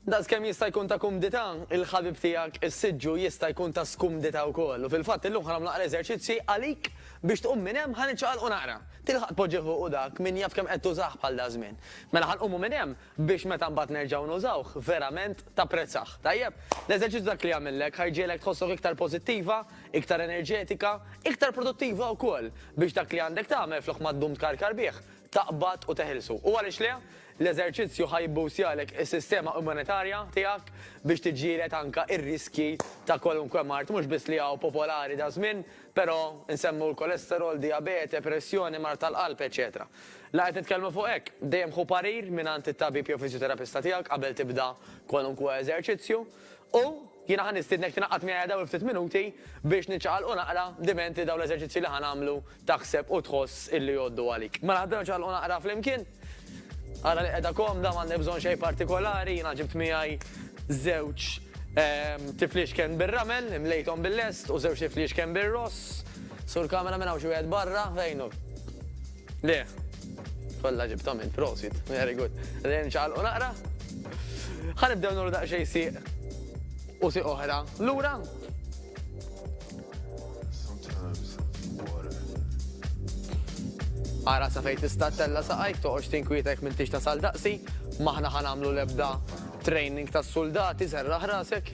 Daqskemm jista' jkun ta' kumdità, il-ħabib tiegħek is-siġġu jista' jkun ta' skumdità wkoll. U fil-fatt illum ħa nagħmlu naqra eżerċizzji għalik biex tqum minn hemm, ħa niċċaqalqu naqra. Tilħaq tpoġġih u dak min jaf kemm qed tużah bħal daż-żmien. Mela ħa nqumu minn hemm biex meta mbagħad nerġgħu nużawh verament tapprezzah. Tajjeb? L-eżerċizzju dak li jagħmillek ħa jġiegħlek tħossok iktar pożittiva, iktar enerġetika, iktar produttiva wkoll biex dak li għandek tagħmel flok ma ddum tkarkar bih, taqbad u teħilsu. U għaliex le? L-eżerċizzju ħa jibboostjalek is-sistema immunitarja tiegħek biex tiġġieled anke r-riskji ta' kwalunkwe mard mhux biss li hawn popolari daż-żmien, però nsemmu l-kolesterol, dijabete, pressjoni, mard tal-qalb, eċċetera La qed nitkellmu fuq hekk, dejjem ħu parir mingħand it-tabib jew fiżjoterapista tiegħek qabel tibda kwalunkwe eżerċizzju. U jiena ħa nistiednek tinaqqad miegħi dawn il-ftit minuti biex niċċaqalqu naqra dimenti dawn l-eżerċizzji li ħa nagħmlu Taħseb u tħoss illi jgħoddu għalik. Mela ħdra ċagħalqu naqra flimkien. Ara li qiegħda komda m'għandek bżonn xejn partikolari, jiena ġibt miegħi żewġ tifliexken bir-ramel, imlejthom bil-lest u żewġ tifliexken bir-ross. Sur kamera minn hawn xi wieħed barra, fejnu. Le. Kollha ġibthom int, prosit. Very good. Lejn ċagħalqu naqra. Ħanibdew nagħmlu daqsxejn sieq u sieq oħra. Lura, Ara sa fejn tista' tella' saqajk toqgħodx tinkwitek minn tix tasal daqsi, m'aħna ħa nagħmlu l-ebda training tas-suldati serraħ rasek.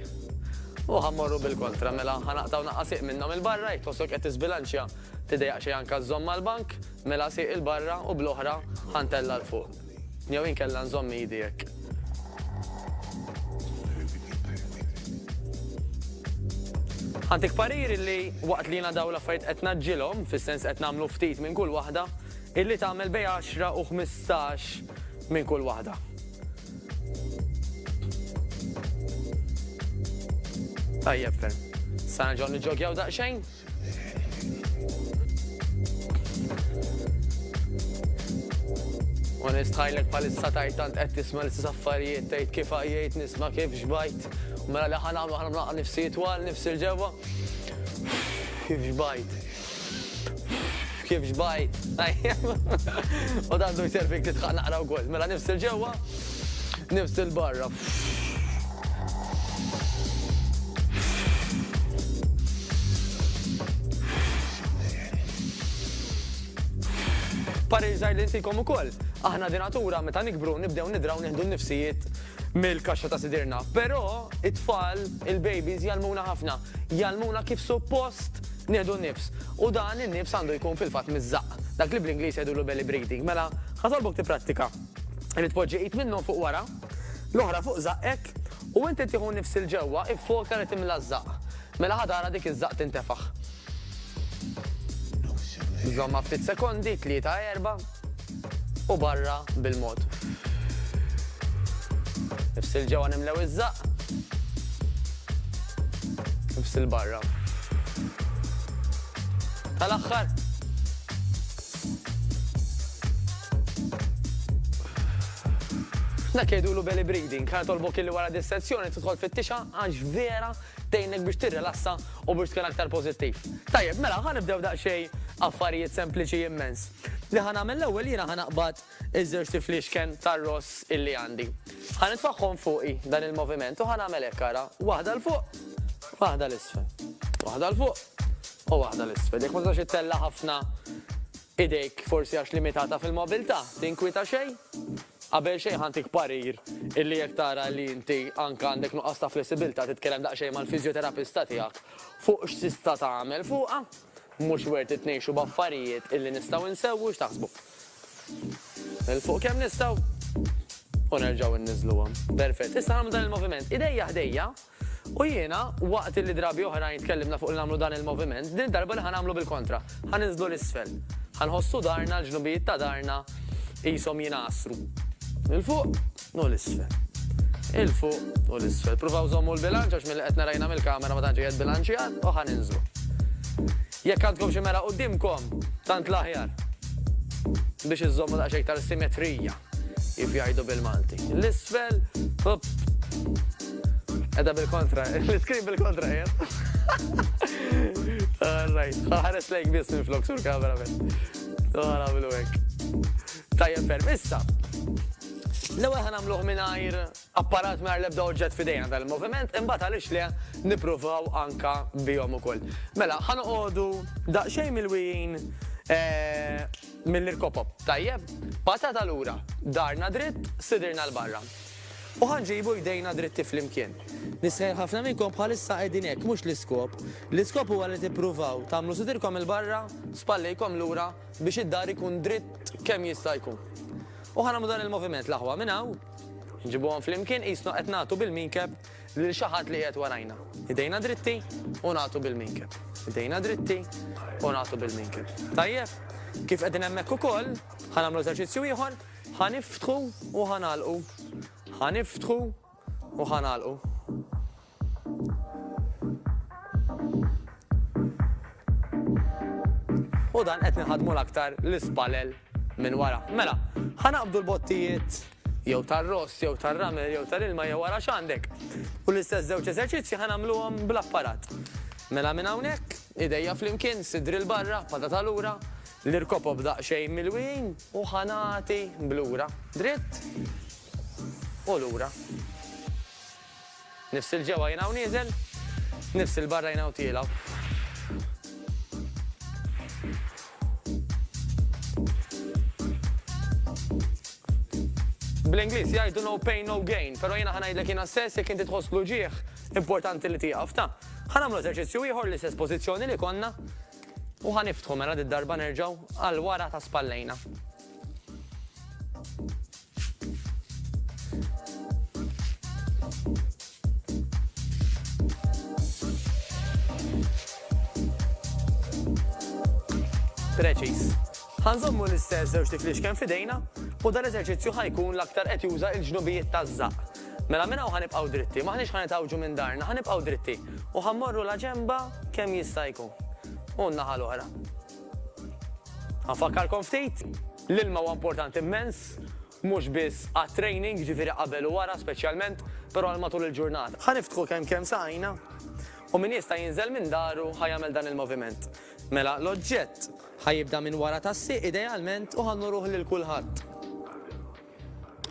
U ħa mmorru bil-kontra mela ħa naqtgħu naqqa' sieq minnhom il-barra jekk tħossok qed tiżbilanċja tidejjaq xejn anke żżomm mal-bank, mela sieq il-barra u bl-oħra ħa ntella' 'l fuq. Jew inkella nżomm idi hekk. Għandik parir illi waqt li jiena dawn l-affarijiet qed ngħaġġilhom, fis-sens qed nagħmlu ftit minn kull waħda, illi tagħmel bejn għaxra u ħmistax minn kull waħda. Tajjeb ferm. Sa nerġgħu niġġogjaw daqsxejn? Onest ħajlek palissa tajt tant qed tisma' l-istess affarijiet tgħid kif għajjejt nisma' kif xbajt. Mela li ħan għamlu ħana mlaqqa nifsi twal nifsi l-ġewwa. Kif xbajt. Kif xbajt. U dan du jservik titħaq naqra wkoll. Mela nifsi l-ġewwa nifsi l-barra. Parir zaħir li ntikom u koll. Aħna dinatura meta nikbru nibdew nidraw nieħdu nifsijiet mill-kaxxa ta' sidirna. Pero it-tfal, il-babies jalmuna ħafna. Jalmuna kif suppost nieħdu nifs. U dan in-nifs għandu jkun fil-fat mizzaq. Dak li bl-Inglis jgħidu l belly breathing. Mela, ħatalbok ti prattika. Irrid poġġi it minnu fuq wara, L-oħra fuq żaqqek, u inti tieħu nifs 'il ġewwa, iffoka li timla ż-żaqq. Mela ħa tara dik iż-żaqq tintefaħ. Żommha ftit sekondi, tlieta, erba', u barra bil-mod. Nifs 'il ġewwa nimlew iż-żaqq. Nifs 'il barra. Tal-aħħar. Dak jgħidulu belly breathing. Ħa nitolbok illi wara dis-sezzjoni tidħol fit-tixha għax vera tgħinek biex tirrilassa u biex tkun aktar pożittiv. Tajjeb, mela ħa nibdew daqsxejn affarijiet sempliċi immens. Li ħa nagħmel l-ewwel jiena ħa naqbad Iż-żewġt ifliexken tar-ross illi għandi. Ħa nitfagħhom fuqi, dan il-moviment, u ħa nagħmel hekk ara, waħda 'l fuq, waħda 'l isfel. Waħda 'l fuq, u waħda 'l isfel. Jekk ma tistax ittella' ħafna idejk forsi għax limitata fil-mobilità, tinkwieta xejn? Qabel xejn ħa ntik parir illi jekk tara li inti anke għandek nuqqas ta' flessibilità titkellem daqsxejn mal-fiżjoterapista tiegħek fuq x'tista' tagħmel fuqha. Mhux worth it ngħixu b'affarijiet illi nistgħu nsewwu, x'taħsbu? 'l fuq kemm nistgħu u nerġgħu nniżżluhom. Perfett. Issa nagħmlu dan il-moviment idejja ħdejja u jiena waqt li drabi oħrajn tkellimna fuq li nagħmlu dan il-moviment, din id-darba li ħa nagħmlu bil-kontra. Ħa ninżlu 'l isfel. Ħa nħossu darna, l-ġnubijiet ta' darna qishom jingħasru. 'l fuq. u l-isfel. Il-fuq u l-isfel. Pruvaw żommu l-bilanċ għax milli qed narajna mill-kamera ma tantx qiegħed bilanċjat u ħa ninżlu. Jekk għandkom xi mera quddiemkom, tant l-aħjar biex iżommu daqsxejn iktar simetrija kif jgħidu bil-Malti. L-isfel, hop. Edha bil-kontra, l-iskrin bil-kontra jem. All right, ħares lejk biss minn flok sur kamera minn. Għara bil-wek. Tajjeb ferm, issa. L-ewwel ħa nagħmluh mingħajr apparat mingħajr l-ebda oġġett f'idejna dan il-moviment, imbagħad għaliex le nippruvaw anka bihom ukoll. Mela, ħa noqogħdu daqsxejn mill-wijin eh, mill-irkopop. Tajjeb, patata lura, darna dritt, sidirna l-barra. U ħanġibu jdejna dritti fl-imkien. Nisħel ħafna minnkom bħalissa qegħdin hekk mhux l-iskop. L-iskop huwa li tippruvaw tagħmlu sidirkom il-barra, spallejkom lura biex id-dar ikun dritt kemm jista' jkun. U ħa nagħmlu dan il-moviment, l-aħwa minn hawn, nġibuhom flimkien qisna qed nagħtu bil-minkeb lil xi ħadd li qiegħed warajna. Idejna dritti u nagħtu bil-minkeb. Idejna dritti u nagħtu bil-minkeb. Tajjeb? Kif qegħdin hemmhekk ukoll, ħa nagħmlu eżerċizzju ieħor, ħa niftħu u ħa nagħlqu. Ħa niftħu u ħa nagħlqu. U dan qed nħadmu l-aktar l-ispalel minn wara. Mela, ħanaqbdu l-bottijiet jew tar-ross, jew tar-ramel, jew tal-ilma, jew wara x'għandek. U l-istess żewġ eżerċizzji ħanamluhom bl-apparat. Mela minn hawnhekk, idejja flimkien, sidri l-barra, pada ta' lura, l-irkopob daqsxejn mill-wien u ħanati blura. Dritt u lura. Nifs 'il ġewwa jien hawn nieżel, nifs 'il barra jien hawn tiela'. Bl-Ingliż jgħidu no pain no gain, però jiena ħa ngħidlek jiena stess jekk inti tħoss l-uġigħ importanti li tieqaf ta'. Ħa nagħmlu eżerċizzju ieħor l-istess pożizzjoni li konna u ħa niftħu mela darba nerġgħu għal wara ta' spallejna. Preċiż. Ħa nżommu l-istess żewġ tiflix kemm f'idejna u dan l-eżerċizzju ħa jkun l-aktar qed juża l-ġnubijiet taż-żaqq. Mela minn hawn ħa nibqgħu dritti, m'aħniex ħa nitgħawġu minn darna, ħa nibqgħu dritti u ħa mmorru la ġenba kemm jista' jkun. U n-naħa l-oħra. Ħa nfakkarkom ftit. L-ilma huwa importanti mmens, mhux biss għat-training, jiġifieri qabel u wara speċjalment, però għal matul il-ġurnata. Ħa niftħu kemm kemm saqajna u min jista' jinżel minn daru ħa jagħmel dan il-moviment. Mela, l-oġġett ħa jibda minn wara tas-sieq idealment u ħa nnuruh lil kulħadd.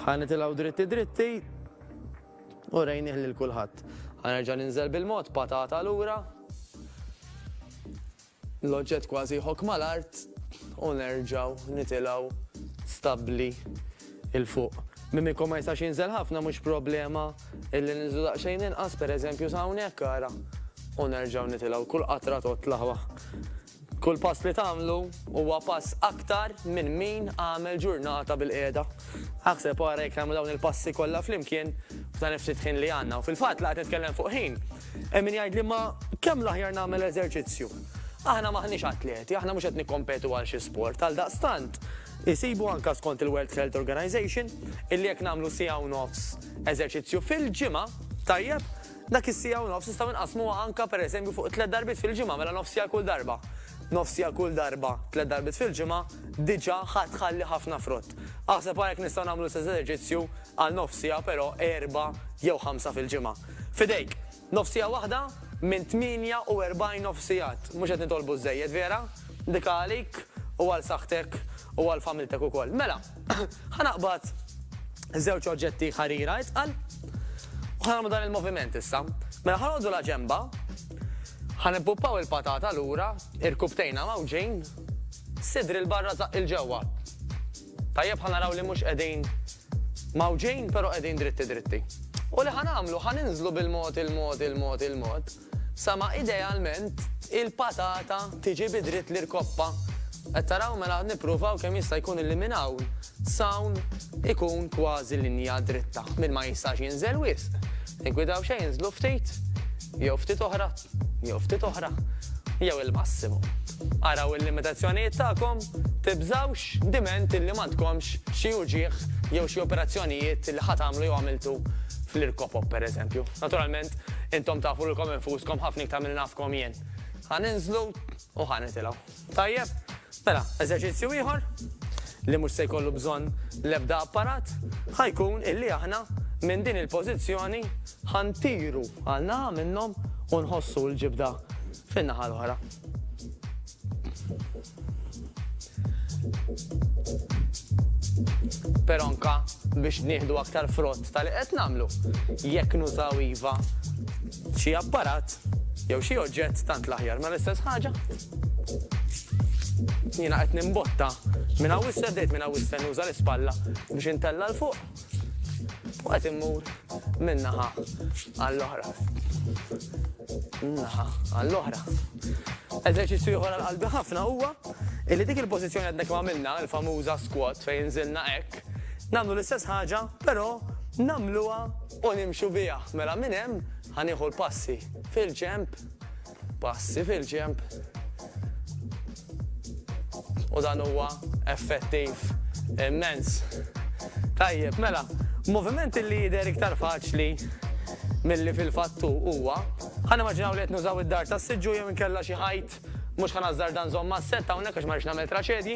Ħa nitilgħu dritti dritti u rejnih lil kulħadd. Ħa nerġa' ninżel bil-mod, patata lura. L-oġġett kważi jħokk mal-art u nerġgħu nitilgħu stabbli 'l fuq. Mimico ma jistax jinżel ħafna mhux problema illi ninżlu daqsxejn inqas, pereżempju sa hawnhekk ara, u nerġgħu nitilgħu. Kull qatra totla' wa. Kull pass li tagħmlu huwa pass aktar minn min għamel ġurnata bil-qiegħda. Aħseb ara jekk nagħmlu dawn il-passi kollha flimkien f'dan il-ftit ħin li għandna. U fil-fatt la qed nitkellem fuq ħin. Hemm min jgħidli ma kemm l-aħjar nagħmel eżerċizzju. Aħna m'aħniex atleti, aħna mhux qed nikkompetu għal xi sport, għaldaqstant isibu anke skont il-World Health Organization illi jekk nagħmlu siegħa u nofs eżerċizzju fil-ġimgħa, tajjeb, dak is-siegħa u nofs nistgħu nqassmuha anke pereżempju fuq tliet darbiet fil-ġimgħa mela nofs siegħa kull darba. Nofs siegħa kull darba, tliet darbiet fil-ġimgħa, diġà ħa tħalli ħafna frott. Aħseb ara jekk nistgħu nagħmlu l-istess eżerċizzju għal nofs siegħa però erba' jew ħamsa fil-ġimgħa. F'idejk. Nofsija waħda minn 48 nofsijat. Mhux qed nitolbu żżejjed, vera? Ndika għalik u għal saħħtek u għal familtek ukoll. Mela, ħa naqbad żewġ oġġetti ħarira itqal u ħa nagħmlu dan il-moviment issa. Mela ħa noqogħdu la ġenba, ħa nippuppaw il-patata lura, irkubtejna mawġin, sidri l-barra zaqq il-ġewwa. Tajjeb ħa naraw li mhux qegħdin mgħawġin pero qegħdin dritti dritti. U li ħa nagħmlu ħa ninżlu bil-mod il-mod il-mod il-mod sa ma idealment il-patata tiġi bi dritt l-irkoppa. Qed taraw mela nippruvaw kemm jista' jkun illi minn hawn sawn ikun kważi linja dritta minn ma jistax jinżel wisq. Tinkwidaw xejn inżlu ftit jew ftit oħra. jew ftit oħra, jew il-massimu. Araw il-limitazzjonijiet tagħkom, tibżgħux diment li m'għandkomx xi uġigħ jew xi operazzjonijiet li ħa tagħmlu jew għamiltu fl-irkopop pereżempju. Naturalment, intom tafu lilkom infuskom ħafna iktar milli nafkom jien. Ħa ninżlu u ħa nitilgħu. Tajjeb, mela eżerċizzju ieħor li mhux se jkollu bżonn l-ebda apparat ħa jkun illi aħna minn din il-pożizzjoni ħa ntiru għal naħa minnhom u nħossu l-ġibda fin-naħa l-oħra. Però anke biex nieħdu aktar frott tal-li qed nagħmlu, jekk nużaw iva xi apparat jew xi oġġett tant l-aħjar ma l-istess ħaġa. Jiena qed nimbotta minn hawn issa bdejt minn hawn issa nuża l-ispalla biex intella' 'l fuq u qed immur minn naħa għall-oħra. Naħa għall-oħra. Eżerċizzju ieħor għal qalbi ħafna huwa illi dik il-pożizzjoni għadna kemm għamilna l-famuża squat fejn inżilna hekk, nagħmlu l-istess ħaġa però nagħmluha u nimxu biha. Mela minn hemm ħa nieħu l-passi fil-ġenb Passi fil-ġenb. U dan huwa effettiv immens. Tajjeb, mela, moviment li jidher iktar faċli milli fil-fatt hu huwa, ħa nimmaġinaw li qed nużaw id-dar tas-siġġu jew inkella xi ħajt, mhux ħa nażżarda nżomm mas-sett hawnhekk għax ma rridx nagħmel traċedji,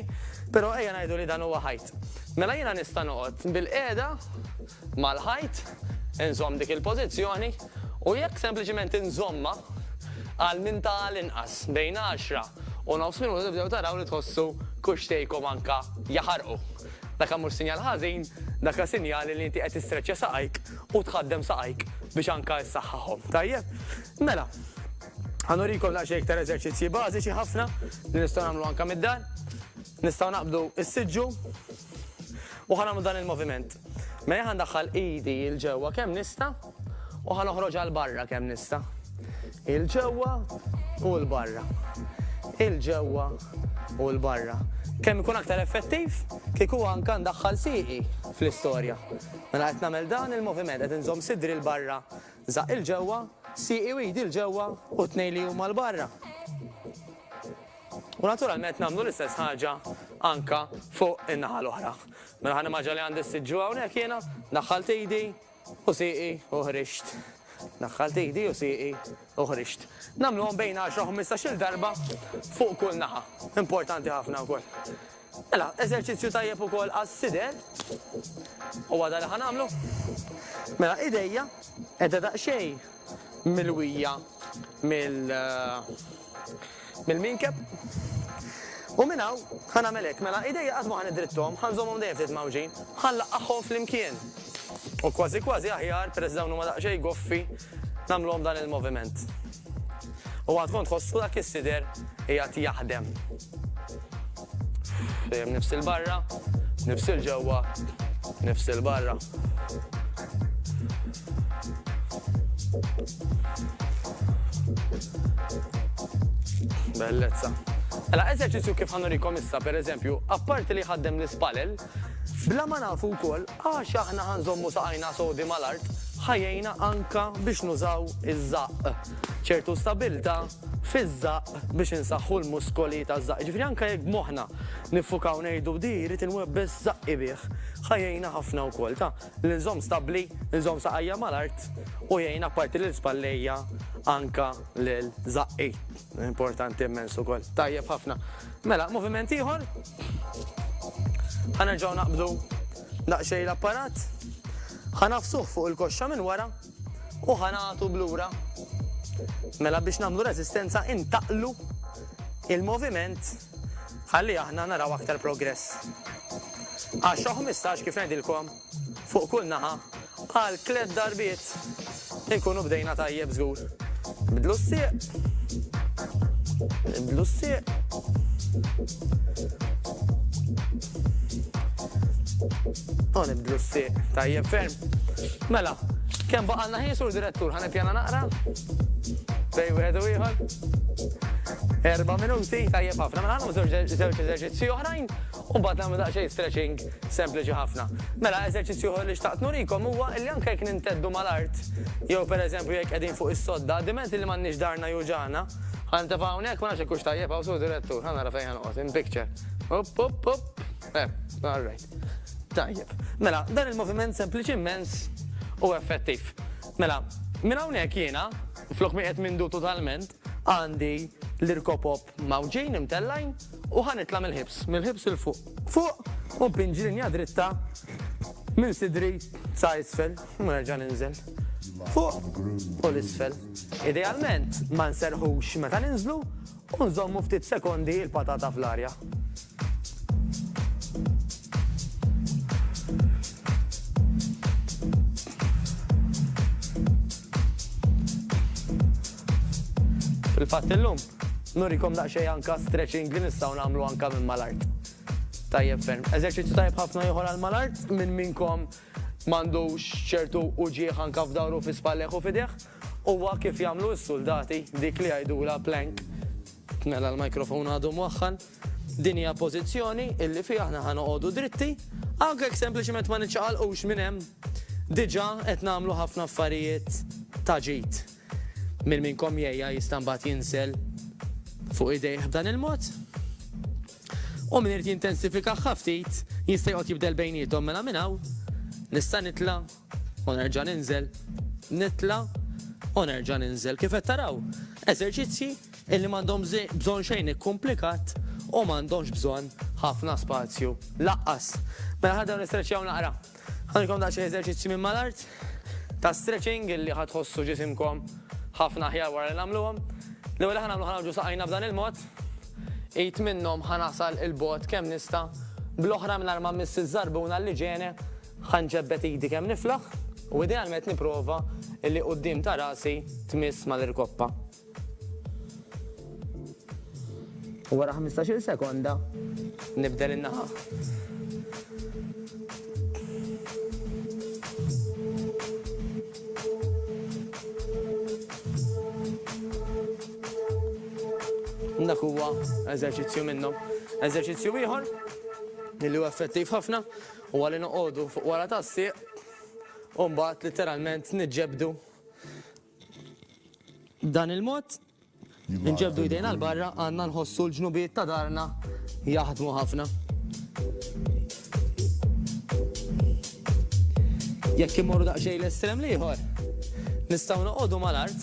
però ejja ngħidu li dan huwa ħajt. Mela jiena nista' noqgħod bil-qiegħda, mal-ħajt, inżomm dik il-pożizzjoni u jekk sempliċiment inżommha għal minn ta' għal inqas bejn għaxra u nofs minuta tibdew taraw li tħossu kuxxtejkom anke jaħarqu. Daka mhux sinjal ħażin, daka sinjali li inti qed tistreċċja saqajk u tħaddem saqajk biex anke issaħħaħhom. Tajjeb? Mela, ħanurikom daqsxejn iktar eżerċizzji bażiċi ħafna li nistgħu nagħmlu anke mid-dar. Nistgħu naqbdu s-siġġu U ħa nagħmlu dan il-moviment. Mela ħa ndaħħal idi 'l ġewwa kemm nista' u ħa noħroġha 'l barra kemm nista'. 'Il ġewwa u 'l barra. 'Il ġewwa u 'l barra. Kemm ikun aktar effettiv kieku anke ndaħħal sieqi fl-istorja. Mela qed nagħmel dan il-moviment, qed inżomm sidri 'l barra, żaqq 'il ġewwa, sieqi u idi 'l ġewwa u t-tnejn li huma 'l barra. U naturalment nagħmlu l-istess ħaġa anke fuq in-naħa l-oħra. Mela ħa nimmaġina li għandi s-sitt ġuegħ hawnhekk jiena, daħħalt idi u sieqi u ħriġt. Daħħalt idi u sieqi u ħriġt. Nagħmluhom bejn għaxra u ħmistax-il darba fuq kull naħa. Importanti ħafna wkoll. Mela, eżerċizzju tajjeb ukoll għas-sider. Huwa dan li ħa nagħmlu. Mela idejja qiegħda daqsxejn milwija mill-minkeb. U minn hawn ħa nagħmel hekk, mela idejja qatt ma ħa niddritthom, ħa nżommhom dejjem ftit mgħawġin, ħa nlaqqagħhom flimkien. U kważi kważi aħjar, peress li dawn huma daqsxejn goffi, nagħmluhom dan il-moviment. U għad kont tħossu dak is-sider qiegħed jaħdem. Dejjem nifsil barra, nifsil ġewwa, nifsil barra. Bellezza. Mela, eżerċizzju kif ħanurikom issa, per eżempju, apparti li ħaddem l-ispalel, bla ma nafu wkoll għax aħna ħanżommu saqajna sodi mal-art, ħajjejna anka biex nużaw iż-żaqq. ċertu stabilta fiż-żaqq biex insaħħu l-muskoli taż-żaqq. Jiġifieri anke jekk b'moħħna niffukaw ngħidu di jrid inwebbes żaqqi bih, ħa jgħinna ħafna wkoll ta' li nżomm stabbli, nżomm saqajja mal-art u jgħin apparti lil spallejja anke lil żaqqi. Importanti immens ukoll. Tajjeb ħafna. Mela, moviment ieħor. Ħa nerġgħu naqbdu daqsxejn l-apparat. Ħa nafsuh fuq il-koxxa minn wara U ħa nagħtu b'lura. Mela biex nagħmlu reżistenza intaqlu il-moviment ħalli aħna naraw aktar progress. 10 15 kif ngħidilkom fuq kull naħa għal tliet darbiet inkunu bdejna tajjeb żgur. Bidlu s-sieq. Bidlu s-sieq. O nibdlu s-sieq, tajjeb ferm. Mela, kemm baqalna ħin sur direttur, ħan ippjana naqra? Bej wieħed u ieħor. Erba' minuti, tajjeb ħafna, mela ħanu żewġ eżerċizzji oħrajn u mbagħad nagħmlu daqsxejn stretching sempliċi ħafna. Mela eżerċizzju oħra li xtaqt nurikom huwa li anke jekk ninteddu mal-art, jew pereżempju jekk qegħdin fuq is-sodda, dimenti li m'għandniex darna juġana, Għanta fa' unek, ma' naxek kux tajjeb, għaw su direttur, għanna rafajn għanqot, in picture. Up, up, up. Eh, all right. Tajjeb. Mela, dan il-moviment sempliċiment u effettiv. Mela, minn hawnhekk jiena, flok mi qed mindu totalment, għandi l-irkopop mawġin imtellajn u ħanitla mill-ħibs, mill-ħibs il-fuq. Fuq, u pinġi linja dritta minn sidri sa' isfel, u nerġa' ninżel. Fuq u l-isfel. Idealment, ma nserħux meta ninżlu, U nżommu ftit sekondi l-patata fl-arja. Fil-fatt illum, nurikom daqsxejn anke stretching li nistgħu nagħmlu anke minn mal-art. Tajjeb ferm. Eżerċizzju tajjeb ħafna ieħor għal mal-art, min minnkom m'għandux ċertu uġigħ anke f'dahru, fi spallejh u f'idejh? Huwa kif jagħmlu s-suldati, dik li jgħidulha plank. Mela l-microphone għadu mwaħħal. Din hija pożizzjoni illi fiha aħna ħa noqogħdu dritti, anke jekk sempliċement ma niċċaqalqux minn hemm, diġà qed nagħmlu ħafna affarijiet ta' ġid. Min minnkom jgħiha jista' mbagħad jinsel fuq idejh b'dan il-mod. U min irid jintensifikah ftit jista' joqgħod jibdel bejniethom mela minn hawn nista' nitla' U nerġa' ninżel, nitla' u nerġa' ninżel. Kif qed taraw, eżerċizzji illi m'għandhom bżonn xejn ikkumplikat u m'għandhomx bżonn ħafna spazju laqqas. Mela ħa nibdew nistreċjaw naqra. Ħanilkom daqsxejn eżerċizzji minn mal-art ta' stretching illi ħa tħossu ġisimkom ħafna aħjar wara li nagħmluhom. L-ewwel li ħa nagħmlu ħa nagħmlu saqajna b'dan il-mod. Id minnhom ħa nasal 'il bogħod kemm nista' bl-oħra mingħajr ma mmiss iż-żarbuna l-liġene Ħa nġebbed idi kemm niflaħ u idealment nipprova li quddiem ta' rasi tmiss mal-irkoppa. U wara ħmistax-il sekonda nibdel in-naħa. Dak huwa eżerċizzju minnhom. Eżerċizzju ieħor li huwa effettiv ħafna Huwa li noqogħdu fuq wara tas-sieq u mbagħad litteralment niġġebdu dan il-mod nġebdu jdejna l-barra għanna nħossu l-ġnubiet ta' darna jaħdmu ħafna. Jekk immorru daqsxejn l-estrem liħor, nistgħu noqogħdu mal-art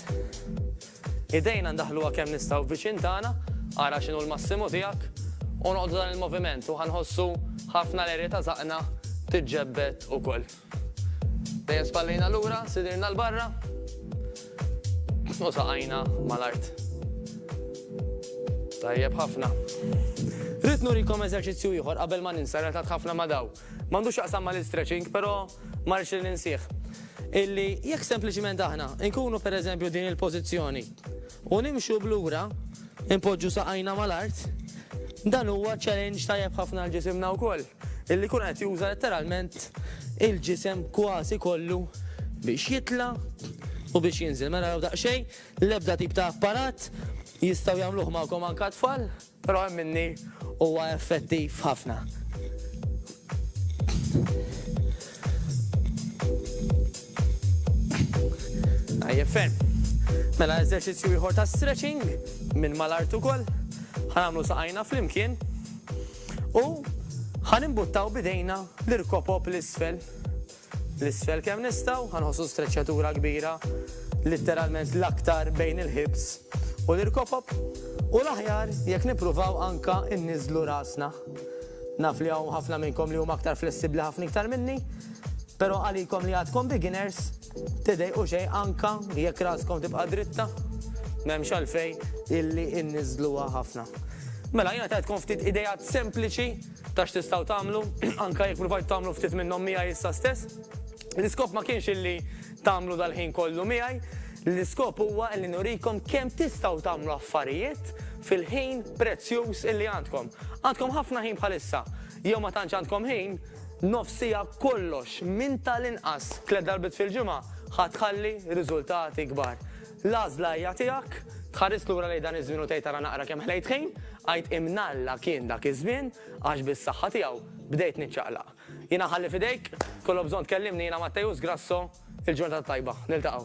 Idejna ndaħħluha kemm nistgħu viċin tagħna, ara x'inhu l-massimu tiegħek, u noqogħdu dan il-moviment u ħa nħossu ħafna l-għerja ta' żaqqna tiġġebbed ukoll. Dejjem spallejna lura, sidirna 'l barra, u saqajna mal-art. Tajjeb ħafna. Ridt nurikom eżerċizzju ieħor qabel ma ninsa relatat ħafna ma' dawn. M'għandu x'jaqsam mal-istretching, però ma rridx li ninsih, illi jekk sempliċiment aħna nkunu pereżempju din il-pożizzjoni u nimxu 'l lura, inpoġġu saqajna mal-art, dan huwa challenge tajjeb ħafna għal ġisimna wkoll, illi jkun qed juża letteralment il-ġisem kważi kollu biex jitla' u biex jinżel. Mela araw daqsxejn, l-ebda tip ta' apparat, jistgħu jagħmluh magħkom anke t-tfal. Però hemm minni huwa effettiv ħafna. Tajjeb ferm. Mela eżerċizzju ieħor ta' stretching minn mal-art ukoll. Ħanamlu saqajna flimkien u ħanimbuttaw bidejna l-irkopop l-isfel 'l isfel kemm nistgħu, ħa nħossu streċċatura kbira, litteralment l-aktar bejn il-ħibs u l-irkopob, u l-aħjar jekk nippruvaw anke nniżżlu rasna. Naf li hawn ħafna minnkom li huma aktar flessibbli ħafna iktar minni, però għalikom li għadkom beginners, tidejqu xejn anke jekk raskom tibqa' dritta, m'hemmx għalfejn illi nniżżluha ħafna. Mela jiena tajtkom ftit ideat sempliċi Ta' x'tistgħu tagħmlu, anke jekk pruvajtu tagħmlu ftit minnhom miegħi issa stess. L-iskop ma kienx illi tagħmlu dal-ħin kollu miegħi, l-iskop huwa illi nurikom kemm tistgħu tagħmlu affarijiet fil-ħin prezzjuż illi għandkom. Għandkom ħafna ħin bħalissa. Jew ma tantx għandkom ħin, nofs siegħa b'kollox, minn tal-inqas tliet darbiet fil-ġimgħa, ħa tħalli riżultati kbar. L-għażla hija tiegħek. Tħares lura lejn dan iż-żmien u tgħid ara naqra kemm ħlejt ħin, għid imnalla kien dak iż-żmien għax bis-saħħa tiegħu bdejt niċċaqlaq. Jiena nħalli f'idejk, tkollok bżonn tkellimni jiena Mattejus Grasso, il-ġurnata t-tajba. Niltaqgħu.